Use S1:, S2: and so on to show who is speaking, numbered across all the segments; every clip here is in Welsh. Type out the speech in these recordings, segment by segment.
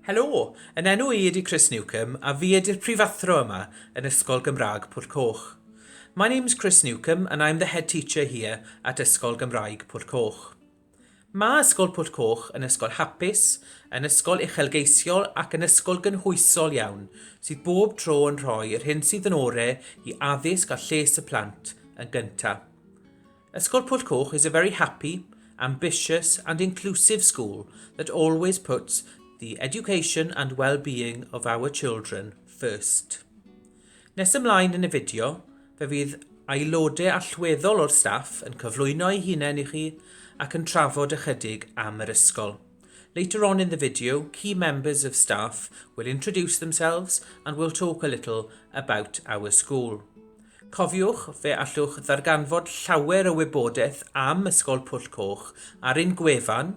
S1: Helo! Yn enw i ydy Chris Newcomb a fi ydy'r prifathro yma yn Ysgol Gymraeg Pwll Coch. My name's Chris Newcomb and I'm the head teacher here at Ysgol Gymraeg Pwll Coch. Mae Ysgol Pwll Coch yn ysgol hapus, yn ysgol uchelgeisiol ac yn ysgol gynhwysol iawn sydd bob tro yn rhoi yr hyn sydd yn ore i addysg a lles y plant yn gynta'. Ysgol Pwll Coch is a very happy, ambitious and inclusive school that always puts the education and well-being of our children first. Nes ymlaen yn y fideo, fe fydd aelodau allweddol o'r staff yn cyflwyno eu hunain i chi ac yn trafod ychydig am yr ysgol. Later on in the video, key members of staff will introduce themselves and will talk a little about our school. Cofiwch, fe allwch ddarganfod llawer o wybodaeth am Ysgol Pwll Coch ar ein gwefan,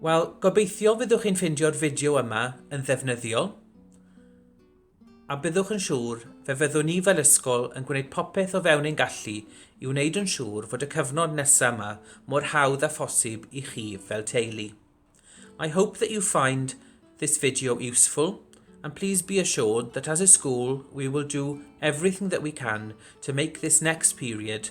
S1: Wel, gobeithio fyddwch chi'n ffeindio'r fideo yma yn ddefnyddiol, a byddwch yn siŵr fe fyddwn ni fel ysgol yn gwneud popeth o fewn ein gallu i wneud yn siŵr fod y cyfnod nesaf yma mor hawdd a phosib i chi fel teulu. I hope that you find this video useful and please be assured that as a school we will do everything that we can to make this next period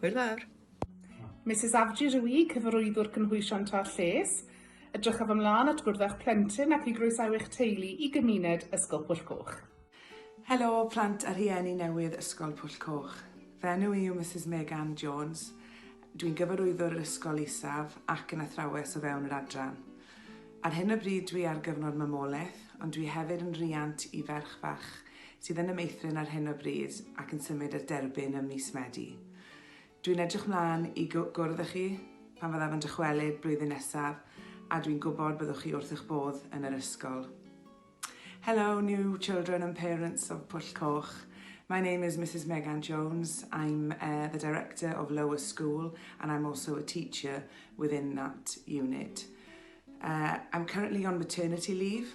S2: Hwyl fawr. Misus
S3: Avjit yw i, Cyfarwyddwr Cynhwysion Tra Lles. Edrychaf ymlaen at gwrdd â'ch plentyn ac i groesawu eich teulu i gymuned Ysgol Pwll Coch. Helo
S4: plant a rhieni newydd Ysgol Pwll Coch. Fy enw i yw Misus Meg Ann Jones. Dwi'n Gyfarwyddwr yr Ysgol Isaf ac yn athrawes o fewn yr adran. Ar hyn o bryd dwi ar gyfnod mamolaeth, ond dwi hefyd yn riant i ferch fach sydd yn y meithrin ar hyn o bryd ac yn symud i'r derbyn ym mis Medi. Dwi'n edrych mlaen i gwrdd â chi pan fyddaf yn dychwelyd blwyddyn nesaf a dwi'n gwybod byddwch chi wrth eich bodd yn yr ysgol. Hello, new children and parents of Pwll Coch. My name is Mrs Megan Jones. I'm uh, the director of Lower School and I'm also a teacher within that unit. Uh, I'm currently on maternity leave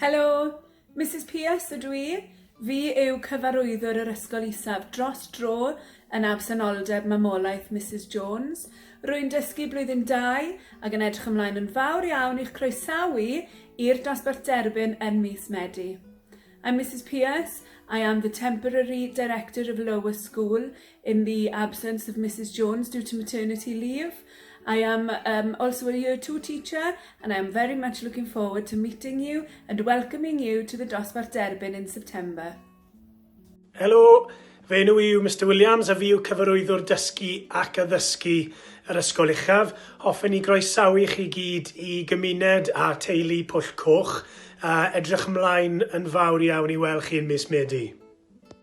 S4: Helo!
S5: Misus Pierce ydw i. Fi yw Cyfarwyddwr yr Ysgol Isaf dros dro yn absenoldeb mamolaeth Misus Jones. Rwy'n dysgu Blwyddyn Dau ac yn edrych ymlaen yn fawr iawn i'ch croesawu i'r dosbarth derbyn yn mis Medi. I'm Misus Pierce, I am the Temporary Director of Lower School in the absence of Mrs Jones due to maternity leave. I am um, also a year two teacher and I am very much looking forward to meeting you and welcoming you to the Dosbarth Derbyn in September.
S6: Helo, fe nhw yw Mr Williams a fi yw cyfarwyddwr dysgu ac addysgu yr Ysgol Uchaf. Hoffen i groesawu chi gyd i gymuned a teulu Pwll Coch a edrych ymlaen yn fawr iawn i weld chi yn mis Medi.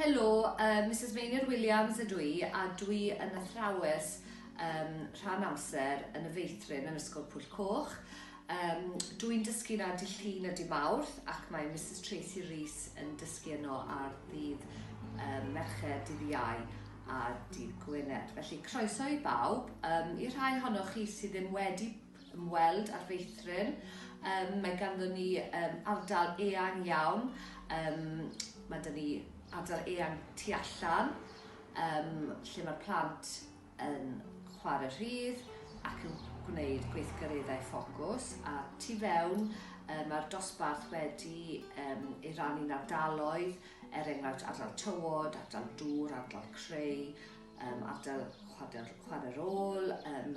S7: Helo, uh, Mrs Meinir Williams ydw i a dwi yn athrawes um, rhan amser yn y feithrin yn Ysgol Pwyll Coch. Um, dwi'n dysgu na di llun a di mawrth ac mae Mrs Tracy Rees yn dysgu yno ar ddydd um, Mercher, dydd Iau a dydd Gwynedd. Felly croeso i bawb, um, i'r rhai honnoch chi sydd ddim wedi ymweld â'r feithrin. Um, mae ganddyn ni um, ardal eang iawn. Um, mae dyn ni ardal eang tu allan, um, lle mae'r plant yn chwarae rhydd ac yn gwneud gweithgareddau ffocws. A tu fewn, um, mae'r dosbarth wedi um, ei rannu'n ardaloedd, er enghraifft ardal tywod, ardal dŵr, ardal creu, um, ardal chwarae'r ôl, um,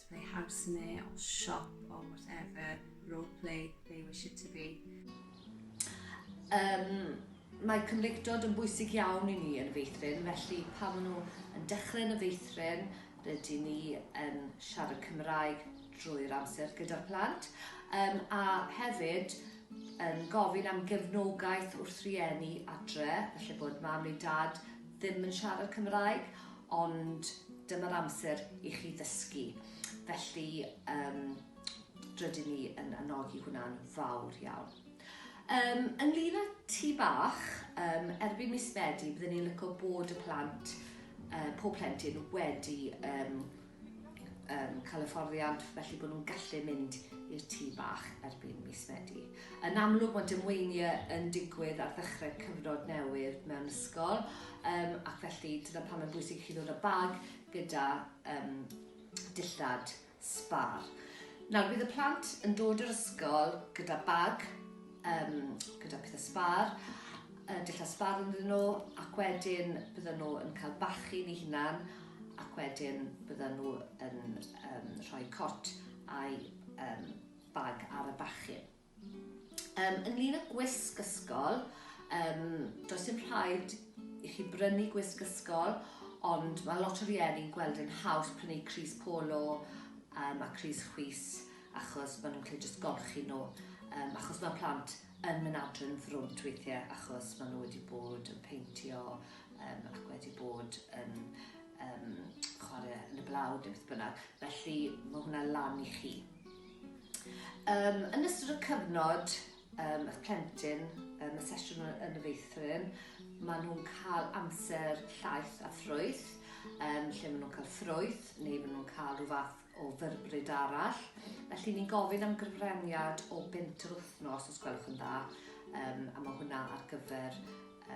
S8: They have sne or shop or whatever role play they wish it to be. Um,
S7: mae cymreictod yn bwysig iawn i ni yn y feithrin, felly pan maen nhw yn dechrau yn y feithrin, rydyn ni yn siarad Cymraeg drwy'r amser gyda'r plant, um, a hefyd yn gofyn am gefnogaeth wrth rieni adre, felly bod mam neu dad ddim yn siarad Cymraeg, Ond dyma'r amser i chi ddysgu. Felly, um, rydyn ni yn anogi hwnna'n fawr iawn. Um, ynglyn â ti bach, um, erbyn mis Medi, byddwn ni'n lyco bod y plant, uh, pob plentyn wedi um, yn cael hyfforddiant felly bod nhw'n gallu mynd i'r tŷ bach erbyn mis Medi. Yn amlwg mae dymweiniau yn digwydd ar ddechrau cyfnod newydd mewn ysgol um, ac felly dyna pam mae'n bwysig i chi ddod â bag gyda um, dillad sbar. Nawr bydd y plant yn dod i'r ysgol gyda bag um, gyda pethau sbar, uh, dillad sbar yn nhw, ac wedyn bydden nhw yn cael bachu ni hunan, ac wedyn bydden nhw yn um, rhoi cot a'i um, bag ar y bachu. Um, ynglyn â gwisg ysgol, um, does dim rhaid i chi brynu gwisg ysgol, ond mae lot o rieni'n gweld yn haws prynu Cris Polo um, a Cris Chwys achos ma' nhw'n gallu jyst golchi nhw yym achos ma' plant yn mynd adre yn frwnt weithie achos ma' nhw wedi bod yn peintio yym ac wedi bod yn yym chware yn y blawd neu beth bynnag felly ma' hwnna lan i chi. Um, yn ystod y cyfnod um, eich plentyn um, y sesiwn yn y feithrin maen nhw'n cael amser llaeth a ffrwyth um, lle maen nhw'n cael ffrwyth neu maen nhw'n cael rhyw fath o ddyrbrid arall. Felly ni'n gofyn am gyfraniad o bint yr wythnos, os gwelwch yn dda, um, a mae hwnna ar gyfer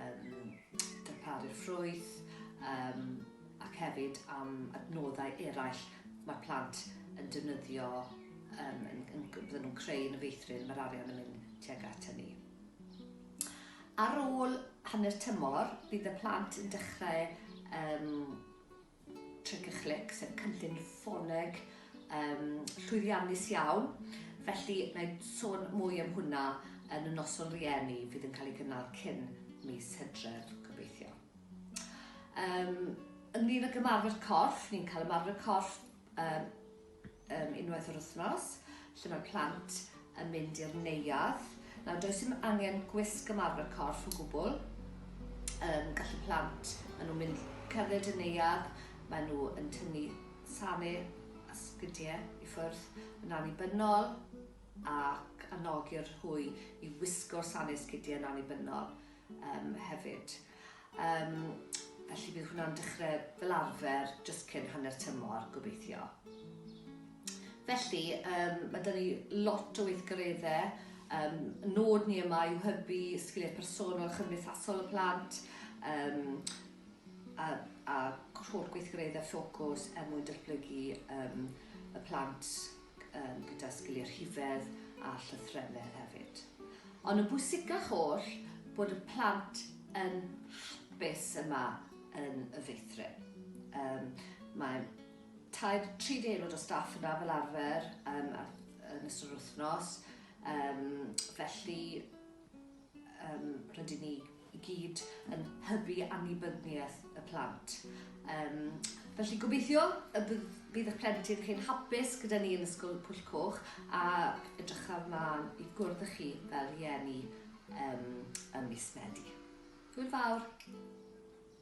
S7: um, darparu'r ffrwyth um, ac hefyd am adnoddau eraill mae plant yn defnyddio um, yn, yn, bydden nhw'n creu yn y feithrin, mae'r arian yn mynd tuag at hynny. Ar ôl hanner tymor, bydd y plant yn dechrau um, Tric a Chlic, sef cynllun ffoleg um, llwyddiannus iawn. Felly, na i sôn mwy am hwnna yn y noson rieni fydd yn cael ei gynnal cyn mis hydref, gobeithio. Um, ynglyn ag ymarfer corff, ni'n cael ymarfer corff um, Yym unwaith yr wythnos lle mae plant yn mynd i'r neuadd. Nawr does dim angen gwisg ymarfer corff o gwbl. Yym gallu plant, maen nhw'n mynd cerdded y neuadd, maen nhw yn tynnu sane a sgidie i ffwrdd yn annibynnol ac anogi'r hwy i wisgo'r sane sgidie yn annibynnol yym hefyd. Yym, felly bydd hwnna'n dechrau fel arfer jyst cyn hanner tymor, gobeithio. Felly, um, mae dyn ni lot o weithgareddau. Um, nod ni yma yw hybu sgiliau personol chymdeithasol y plant um, a, a holl gweithgareddau ffocws er mwyn datblygu um, y plant gyda sgiliau rhifedd a llythrennedd hefyd. Ond yn bwysicach oll, bod y plant yn hapus yma yn y feithrin. Um, mae tair, tri di aelod o staff yna fel arfer um, yn ystod yr wythnos, um, felly Yym, rydyn ni i gyd yn hybu annibynniaeth y plant. Yym, felly gobeithio y bydd bydd eich plentyn chi'n hapus gyda ni yn Ysgol Pwll Coch a edrychaf mlaen i gwrdd â chi fel rhieni yym ym mis Medi. Hwyl fawr!